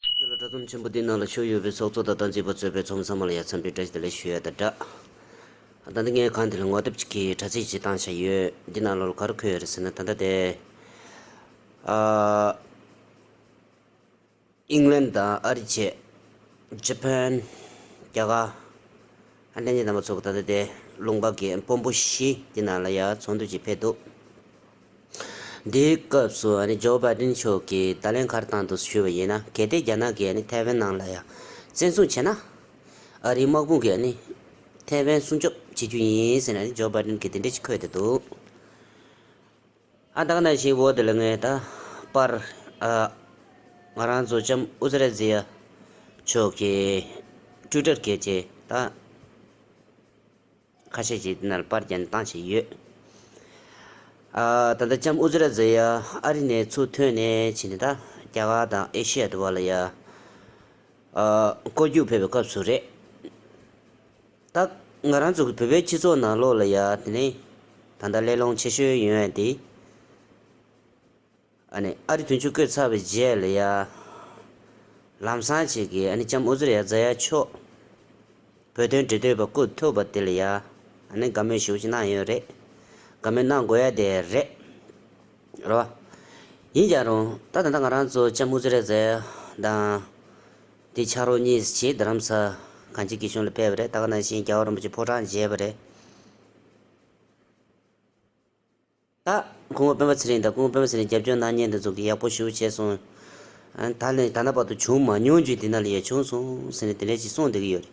ཁྱོད་ལ་དྲ་ཚོམས་ཆེན་པོ་འདིའི་ནང་ལ་ཤོག་ཡོད་པའི་ཚོགས་གཙོ་དང་དང་བྱིས་པ་གཙོས་པའི་ཚོམས་ཚང་མ་ལ་ཡ་མཚན་པའི་དྲ་ཞིག་དེ་ལས་ཤོད་ཡ་དང་འདྲ། ད་ལྟ་ངས་གང་དེ་ལ་ངོ་དེབ་ཅིག་གིས་དྲ་ཚིགས་ཅིག་བཏང་བཞག་ཡོད། འདི་ནང་ལོར་ག་རུ་འཁོད་ཡོད་རེད་ཟེར་ན་ད་ལྟ་དེ། ཨ། ཨིང་ལན་དང་ཨ་རི་བཅས། Japan། རྒྱ་གར། ཨ་ནན་གྱི་རྣམ་པ་ཚོགས་ད་ལྟ་དེ་ལུང་པ་གའི་སྤོམ་པོ་བཞི་དེ་ནང་ལ་ཡར་ཚོང་འདུས་ཀྱིས་ཕེབས་འདུག་འདིའི་སྐབས་སུ Joe Biden མཆོག་གིས་བརྡ་ལན་ཁར་བཏང་འདུག་ཞུས་པ་ཡིན་ན་གལ་ཏེ་རྒྱ་ནག་གིས་ཐའེ་ཝན་ནང་ལ་ཡར་བཙན་བཟུང་བྱས་ན། ཨ་རིའི་དམག་དཔུང་གིས་ཐའེ་ཝན་སྲུང་སྐྱོབ་བྱེད་རྒྱུ་ཡིན་ཟེར་ནས Joe Biden གིས་དེ་འདྲའི་ཅིག་འཁོད་བསྡད་འདུག། ཨ་དག་ནས་ཤིང་བོ་དེ་ལ་ངའི་ད་པར་ཨ། ང་རང་ཚོ་ལྕམ་ཨུ་ཛི་རེ་ཛི་ཡ་མཆོག་གི་སྤྲུལ་སྒྲར་གལ་ཆེ་ད། ཁ་ཤས་ཀྱིས་དེ་ན་ལ་པར་གྱེན་བཏང་བྱས་ཡོད། ཨ། ད་ལྟ་ལྕམ་ཨུ་ཛི་རེ་ཛི་ཡ་ཨ་རི་ནས་ཚུར་ཐོན་ནས་ཕྱིན་ནས་ད་རྒྱ་གར་དང་ཨེ་ཤི་ཡ་དུ་བ་ལ་ཡ། ཨ། བསྐོར་རྒྱུགས་ཕེབས་པའི་སྐབས་སུ་རེད། དག་ང་རང་ཚོ་གི་བོད་པའི་སྤྱི་ཚོགས་ནང་ལོགས་ལ་ཡ་དེ་ནས་ད་ལྟ་གླེང་སློང་ཆེ་ཤོས་ཡོད་ཡ་དེ་ཨ་ནི་ཨ་རི་དུས་མཆོད་བསྐོས་ཚར་བའི་རྗེས་ལ་ཡ་ལམ་སང་བྱེད་ཀྱི་ཨ་ནི་ལྕམ་ཨོ་ཟེར་ཡ་རྫ་ཡ་མཆོག་བོད་དོན་འབྲེལ་འདོད་པ་སྐུ་ཐུབ་པ་དེ་ལ་ཡ་ཨ་ནི་དགའ་མོས་ཞིག་གཅིག་གནང་ཡོད་རེད་དགའ་མོས་གནང་དགོས་ཡ་དེ་རེད་རོ། ཡིན་ཀྱང་རུང་ད་ད་ལྟ་ང་རང་ཚོ་ལྕམ་ཨོ་ཟེར་ཡ་རྫ་ཡ་དང། དེ་ཕྱག་རོགས་གཉིས་སུ་བྱས་རྡ་རམ་ས་གངས་ཅན་སྐྱིད་གཤོངས་ལ་སྤེལ་བ་རེད་སྟག་སྣ་ཤིང་རྒྱ་བ་རིན་པོ་ཆེ་ཕོ་བྲང་མཇལ་བ་རེད། ད། སྐུ་ངོ་སྤེན་པ་ཚེ་རིང་དང་སྐུ་ངོ་སྤེན་པ་ཚེ་རིང་རྒྱབ་སྐྱོར་གནང་བརྙན་དེ་ཚོ་གི་ཡག་པོ་ཞུ་བྱས་སོང། ད་ནི་ད་ལྟ་བར་དུ་བྱུང་མ་མྱོང་རྒྱུ་འདི་ན་ལ་ཡོད་བྱུང་སོང་ཟེར་ནས་དེ་འདྲའི་ཅིག་གསུངས་བསྡད་ཀྱི་ཡོད་རེད།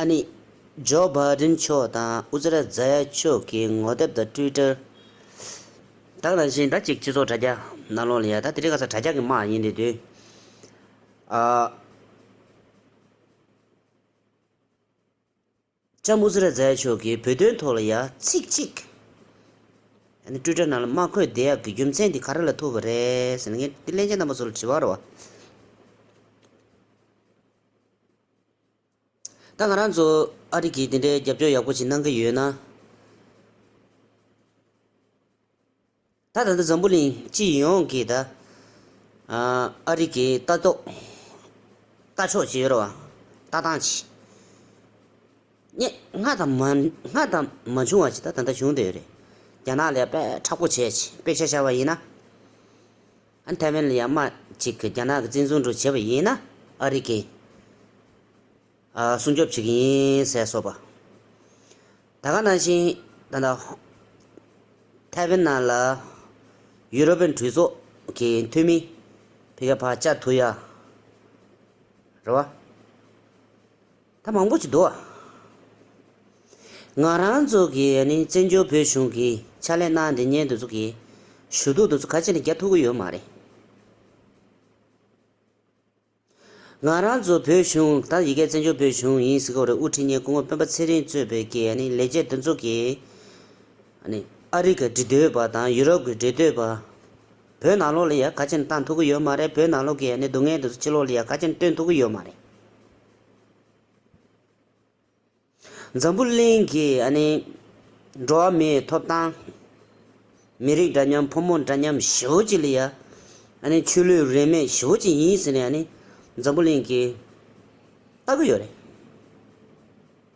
ཨ་ནི། ཇོ་བྷ་རིན་མཆོག་དང་ཨུ་ཙི་ར་རྫ་ཡ་མཆོག་གི་ངོ་དེབ་དང་ཏུའི་ཀྲར། བདག་རང་བཞིན་ཟླ་གཅིག་སྤྱི་ཚོགས་དྲ་རྒྱ་ནང་ལོག་ལ་ཡ་ད་དེ་རིང་ག་ས་དྲ་རྒྱ་གི་དམག་ཡིན་དེ་དུས། ལྕམ་ཨུ་ཙི་ར་རྫ་ཡ་མཆོག་གིས་བོད་དོན་ཐོག་ལ་ཡ་ཚིག་གཅིག། ཨ་ནི་ཏུའི་ཀྲར་ནང་ལ་དམག་འཁོད་བདེ་ཡག་གི་རྒྱུ་མཚན་དེ་ག་རེ་ལ་ཐུག་པ་རེད་ཟེར་ནས་ངས་གླེན་ཆེན་རྣམ་པ་ཚོ་ལ་དྲི་བ་རོ། ད་ང་རང་ཚོ་ཨ་རི་གིས་འདི་འདྲའི་རྒྱབ་སྐྱོར་ཡག་པོ་ཞིག་གནང་གི་ཡོད་ན། ད་ད་ལྟ་འཛམ་བུ་གླིང་སྤྱི་ཡོངས་ཀྱིས་ད་ཨ་རི་གི་ལྟ་རྟོག་ལྟ་ཕྱོགས་ཇི་ཡོད་རོ། ལྟ་སྟངས་ཇི། སྙད། སྔར་དང་མ། སྔར་དང་མ་བྱུང་བ་ཞིག་ད་ད་ལྟ་བྱུང་བསྡད་ཡོད་རེད། རྒྱ་ནག་ལས་དཔེ་དྲག་པོ་བྱས། དཔེ་ཆ་ཤར་བ་ཡིན་ན། ཐའེ་ཝན་ལ་ཡང་དམག་ཅིག་གིས་རྒྱ་ནག་གི་བཙན་བཟུང་འགྲོ་བྱེད་པ་ཡིན་ན་ཨ་རི་ཀས་སྲུང་སྐྱོབ་བྱེད་ཀྱི་ཡིན་ཟེར་སོགས་པ། ད་ག་ནང་བཞིན་ད་ལྟ་ཐའེ་ཝན་ནང་ལ་ཡུ་རོབ་པའི་འཕྲུལ་ཚོགས་ཀྱི་འཐུས་མི་བྷི་ཀ་བྷ་ཅཱ་ཐུ་ཡཱ་རེད་བ། ད་མང་པོ་ཞིག་འདུག་ཨ། ང་རང་ཚོ་གི་ནི་བཙན་བྱོལ་བོད་གཞུང་གི་ཕྱག་ལས་གནང་འདི་ཉེན་འདི་ཚོ་གི་ཞུ་གཏུག་འདི་ཚོ་ག་ཅི་ནས་རྒྱབ་ཐུབ་ཀི་ཡོད་མ་རེད། ང་རང་ཚོ་བོད་གཞུང་ད་ཡི་གེ་བཙན་བྱོལ་བོད་གཞུང་ཡིན་ཟེར་སྐོར་རེད་དབུ་ཁྲིད་ཉེན་སྐུ་ངོ་སྤེན་པ་ཚེ་རིང་གཙོས་པའི་གི་ནི་ལས་བྱེད་འདི་ཚོ་གི་ནི་ཨ་རི་གི་འདྲི་འདོད་པ་དང་ཡུ་རོབ་གི་འདྲི་འདོད་པ་བོད་ནང་ལོགས་ལ་ཡང་ག་ཅི་ནས་བཏང་ཐུབ་ཀི་ཡོད་མ་རེད་བོད་ནང་ལོགས་གི་ནི་སྡུག་བསྔལ་འདི་ཚོ་ཕྱི་ལོགས་ལ་ཡང་ག་ཅི་ནས་སྟོན་ཐུབ་ཀི་ཡོད་མ་རེད། འཛམ་བུ་གླིང་གི་འགྲོ་བ་མིའི་ཐོབ་ཐང། མི་རིགས་འདྲ་མཉམ་ཕོ་མོ་འདྲ་མཉམ་ཞི་བོ་ཅི་ལི་ཡ། ཆོས་ལུགས་རིས་མེད་ཞི་བོ་ཅི་ཡིན་ཟེར་ནས་འཛམ་བུ་གླིང་གིས་ལྟ་གི་ཡོད་རེད།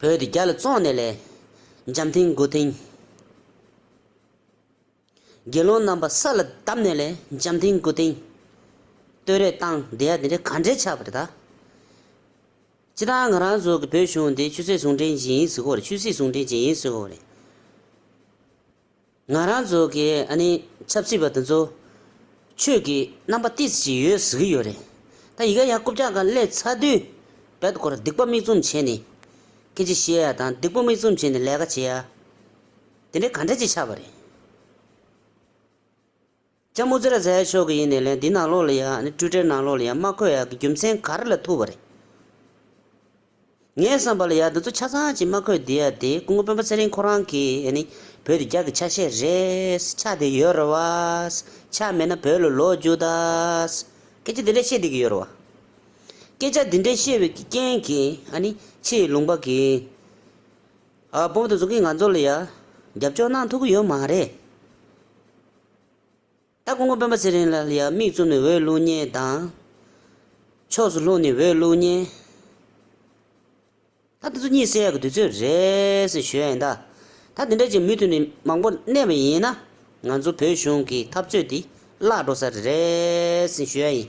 བོད་དེ་རྒྱ་ལ་བཙོང་ནས་ལས། འཇམ་མཐིང་མགོ་ཐིང། དགེ་སློང་རྣམ་པ་ས་ལ་བརྡབས་ནས་ལས། འཇམ་མཐིང་མགོ་ཐིང། སྟོད་རེ་བཏང་འདི་ཡ་དེ་འདྲས་ག་འདྲས་ཆགས་པ་རེ་ད། སྤྱི་བཏང་ང་རང་ཚོ་གི་བོད་གཞུང་འདི་ཆུ་ཚད་ཟུང་འབྲེལ་ཅན་ཡིན་ཟེར་གོ་རེ་ཆུ་སྲིད་ཟུང་འབྲེལ་ཅན་ཡིན་ཟེར་གོ་རེ། ང་རང་ཚོ་གི་ཆབ་སྲིད་པ་དེ་ཚོ་ཆོས་ཀྱི་རྣམ་པ་ཏིས་ཅིག་ཡོད་ཟེར་གྱི་ཡོད་རེད་ད་ཡི་ག་ཡ་རྐུབ་ཅག་ག་སླེ་ཚ་དུས་བལ་དུ་སྐོར་སྡིག་པོ་མིག་བཙུམ་བྱེད་ནས་སྐད་ཅིག་བཤད་ཡ་དང་སྡིག་པོ་མིག་བཙུམ་བྱེད་ནས་ལས་ཀ་བྱེད་ཡ་དེ་འདྲའི་ག་འདྲ་ཅིག་ཆགས་པ་རེད། ལྕམ་མོ་ཙེ་ར་ཛའི་ཕྱོགས་ཀྱི་ཡིན་ནས་ལན་འདི་ནང་ལོགས་ལ་ཡང་ནི་སྤྲོས་བྲལ་ནང་ལོགས་ལ་ཡང་མ་འཁོད་ཡག་གི་རྒྱུ་མཚན་ག་རེ་ལ་ཐུག་པ་རེད། ངས་བསམ་པ་ལ་ཡག་འདི་ཚོ་ཆ་ཚང་ཅིག་མ་འཁོད་འདི་ཡག་དེ་སྐུ་ངོ་དཔོན་པོ་ཚེ་རིང་ཁོ་རང་གིས་ཡང་ནི་བོད་དུ་རྒྱག་གི་ཆ་ཤས་རེད་ཆ་དེ་ཡོད་རེད་བ། ཆ་མེད་ན་བོད་ལ་ལོག་རྒྱུ་དང། སྐད་ཆ་འདི་འདྲ་བཤད་བསྡད་ཀྱི་ཡོད་རེད་བ། སྐད་ཆ་འདི་འདྲ་བཤད་པའི་རྐྱེན་གྱིས་ཡང་ནི་ཕྱི་ཡི་ལུང་པ་གིས་དཔོན་པོ་དང་གཟུགས་ཀྱིས་ང་ཚོ་ལ་ཡང་རྒྱབ་སྐྱོར་གནང་ཐུབ་ཀྱི་ཡོད་མ་རེད། ད་ཀོང་པོ་དཔོན་པོ་ཚེ་རིང་ལ་ཡང་མིག་བཙུམ་ནས་འོས་བླུགས་ཉེན་དང། ཕྱོགས་སུ་ལྷུང་ནས་འོས་བླུགས་ཉེན། ད་འདི་ཚོ་གཉིད་སད་ཀྱི་དུས་ཚོད་རེད་ཟེར་ཞོད་ཡིན་ད། ད་འདི་འདྲ་ཅིག་མུ་མཐུད་ནས་མང་པོ་གནས་པ་ཡིན་ན། ང་ཚོ་བོད་གཞུང་གི་འཐབ་རྩོད་འདི་བརླག་འགྲོ་ས་རེད་ཟེར་ཞོད་ཡིན།